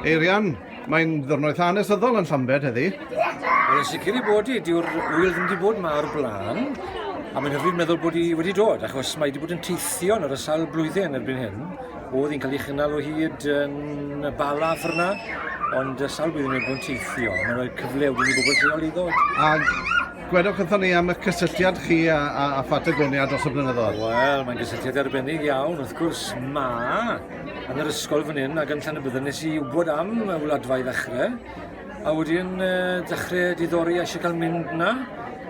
Eirian, mae'n ddwrnod eitha anesyddol yn Llambed heddi. Wel, yn sicr i bod i, diw'r wyl ddim wedi bod yma o'r blaen, a mae'n hyfryd meddwl bod i wedi dod, achos mae wedi bod yn teithio yn yr asail blwyddyn erbyn hyn. Oedd hi'n cael ei chynnal o hyd yn y bala ffyrna, ond y sawl blwyddyn wedi bod yn teithio, mae'n rhoi cyfle wedi i bobl lleol i ddod. A Gwedwch wrthon ni am y cysylltiad chi a, a, a Phatagonia dros y blynyddoedd. Wel, mae'n gysylltiad arbennig iawn, wrth gwrs, ma yn yr ysgol fan hyn ac yn llan y byddwn nes i wybod am y wladfa i ddechrau, a wedyn uh, dechrau diddori a eisiau cael mynd na,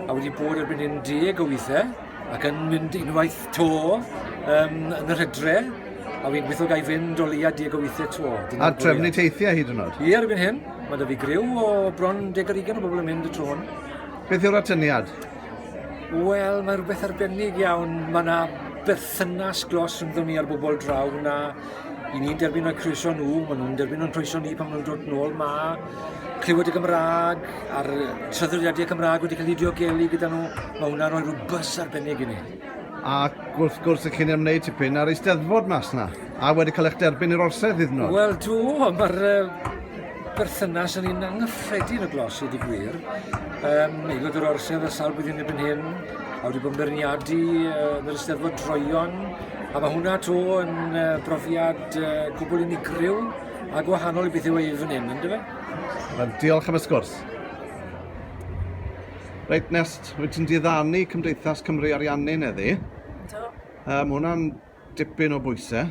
a wedi bod erbyn hyn deg o weithiau, ac yn mynd unwaith to um, yn yr hydre, a fi'n gweithio gael fynd o leia deg o weithiau to. A trefnu teithiau hyd yn oed? Ie, ar erbyn hyn. Mae da fi griw o bron deg ar ugen o bobl yn mynd y tro hwn. Beth yw'r atyniad? Wel, mae rhywbeth arbennig iawn. Mae yna berthynas glos rhyngddon ni ar bobl draw na i ni'n derbyn o'r croeso nhw, maen nhw'n derbyn o'n croeso ni pan maen nhw'n dod nôl ma, clywed y Gymraeg a'r traddodiadau Cymraeg wedi cael ei diogelu gyda nhw, mae hwnna'n rhoi rhyw bus arbennig i ni. Ac wrth gwrs, y chi'n ymwneud tipyn ar eisteddfod mas na, a wedi cael eich derbyn i'r orsedd hyd yn oed. Wel, tu o, mae'r berthynas yn un anghyffredin o glos i ddigwyr. Um, Aelod yr orsedd y sawl blwyddyn erbyn hyn, a wedi bod yn berniadu uh, fel ysteddfod droion, a mae hwnna to yn uh, brofiad uh, cwbl unigryw a gwahanol i beth yw ei fan hyn, ynddo fe? Wel, diolch am y sgwrs. Reit, Nest, wyt ti'n diddanu Cymdeithas Cymru Ariannu neddi? Do. Um, hwnna'n Dipyn o bwysau.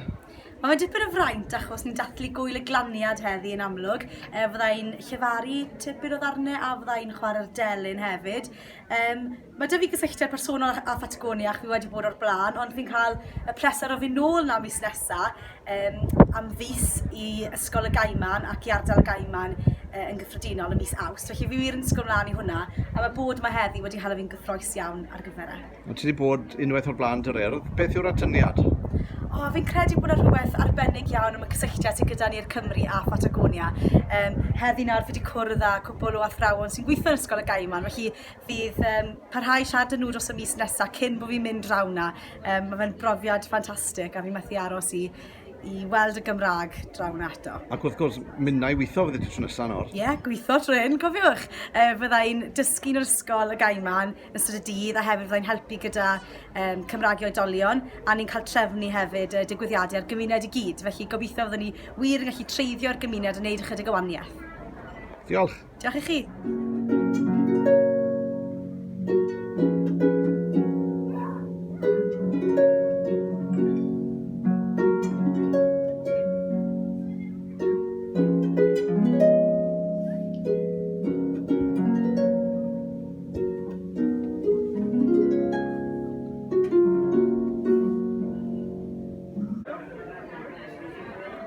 Mae fe dipyn o fraint achos ni'n dathlu Gŵyl y Glaniad heddi yn amlwg. Yy fydda i'n llefaru tipyn o ddarne a fydda i'n chwarae'r delyn hefyd. Yym ma' 'dy fi gysylltiad personol â â Phatagonia ac fi wedi bod o'r bla'n ond fi'n ca'l y pleser o fyn' nôl 'na mis nesa yym am fis i Ysgol y Gaiman ac i Ardal y Gaiman yy yn gyffredinol ym mis Awst felly fi wir yn disgwl mlan i hwnna a ma' bod 'ma heddi wedi hala fi'n gyffrous iawn ar gyfer e. O ti 'di bod unwaith o'r bla'n Dwr Urdd? Beth yw'r atyniad? O fi'n credu bod 'na rhywbeth arbennig iawn am y cysylltiad sy gyda ni i'r Cymry a Phatagonia. Um, heddi nawr fi wedi cwrdd â cwbl o athrawon sy'n gweithio yn Ysgol y Gaiman, felly fydd um, parhau siarad â nhw dros y mis nesaf cyn bod fi'n mynd draw na. Um, mae fe'n brofiad ffantastig a fi methu aros i i weld y Gymraeg draw na eto. Ac wrth gwrs, mynnau weithio fyddi ti tro nesaf nawr. Ie, yeah, gweithio tro hyn, cofiwch. E, fydda i'n dysgu yn yr ysgol y gaiman, yn ystod y dydd a hefyd fyddai'n helpu gyda um, Cymraeg i oedolion a ni'n cael trefnu hefyd uh, digwyddiadau ar gymuned i gyd. Felly gobeithio fyddwn ni wir yn gallu treiddio'r gymuned a wneud ychydig o waniaeth. Diolch. Diolch i chi.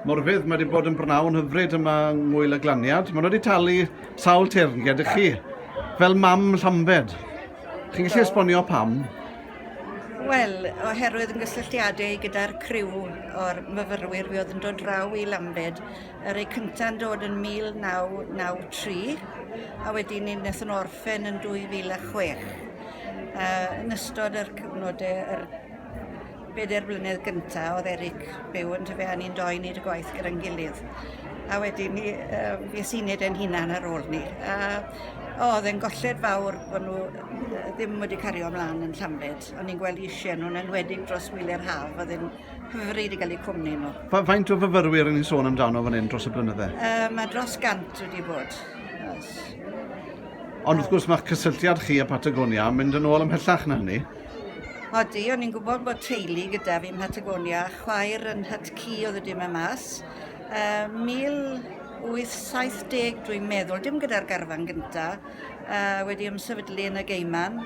Morfydd, mae wedi bod yn brnawn hyfryd yma yng Ngwyl y Glaniad. Mae nhw wedi talu sawl teyrnged i chi, fel mam Llambed. Chi'n gallu esbonio pam? Wel, oherwydd yn gysylltiadau gyda'r criw o'r myfyrwyr fi oedd yn dod draw i Lambed Y rei cynta' yn dod yn 1993 a wedyn ni nethon nhw orffen yn 2006. A yn ystod yr cyfnod yy yr beder blynedd gynta' o'dd Eric byw yndyfe a ni'n doi neud y gwaith gyda'n gilydd. A wedyn ni yym fues i'n neud e'n hunan ar ôl 'ny. A o o'dd e'n golled fawr bo' nw yy ddim wedi cario mlan yn Llambed. O'n i'n gwel' isie nw yn enwedig dros wylia'r haf o'dd e'n Cyfri wedi cael eu cwmni nhw. Fa faint o fyfyrwyr yn ni'n sôn amdano fan hyn dros y blynydde? Uh, mae dros gant wedi bod. Yes. Ond wrth gwrs mae'ch cysylltiad chi a Patagonia yn mynd yn ôl ymhellach na hynny. Odi, o'n i'n gwybod bod teulu gyda fi yn Patagonia, chwaer yn hyt cu oedd wedi mynd mas. Uh, 1870 dwi'n meddwl, dim gyda'r garfan gyntaf, uh, wedi ymsefydlu yn y geiman,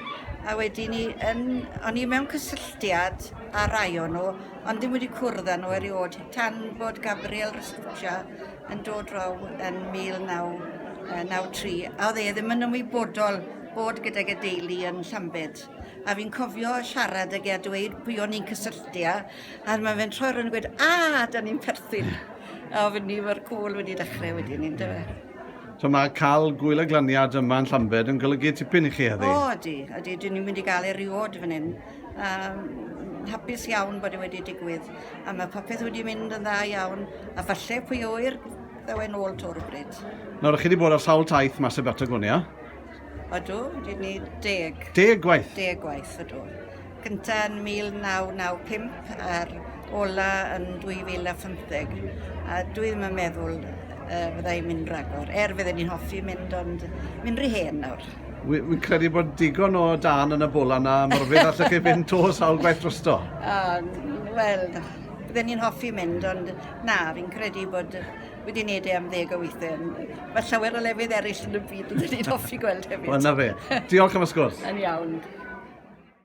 a wedi ni, yn, o'n i mewn cysylltiad a rai o nhw, ond ddim wedi cwrdd â nhw erioed, tan bod Gabriel Restuccia yn dod draw yn 1993, a oedd e ddim yn ymwybodol bod gydag y deulu yn Llambed. A fi'n cofio siarad ag e a dweud pwy o'n i'n cysylltu â, a mae fe'n troi rhywun yn gweud, a, da ni'n perthyn. A oedd ni mae'r cwl wedi dechrau wedi ni, ynddo fe. So mae cael gwyl a glaniad yma yn Llambed yn golygu tipyn i chi heddi? O, ydy, ydy, dyn ni'n mynd i gael eriod fan hyn. a mm hapus iawn bod e wedi digwydd a mae popeth wedi mynd yn dda iawn a falle pwy a ŵyr ddaw e'n ôl to rywbryd. Nawr, chi wedi bod ar sawl taith mas y Batagonia? Ydw, wedi ni deg. Deg gwaith? Deg gwaith, ydw. Gynta yn 1995 a'r ola yn 2015. A dwi ddim yn meddwl uh, fydda i'n mynd ragor, er fydden ni'n hoffi mynd ond mynd rhy hen nawr. Wi- wi'n credu bod digon o dân yn y bol yna, Morfydd, allwch chi fynd to sawl gwaith drosto? O, n- wel, bydden ni'n hoffi mynd, ond na, fi'n credu bod yy, wedi wneud e am ddeg o weithiau. Mae llawer o lefydd eraill yn y byd bydden ni'n hoffi gweld hefyd. Wel, na fe. Diolch am y sgwrs. Yn iawn.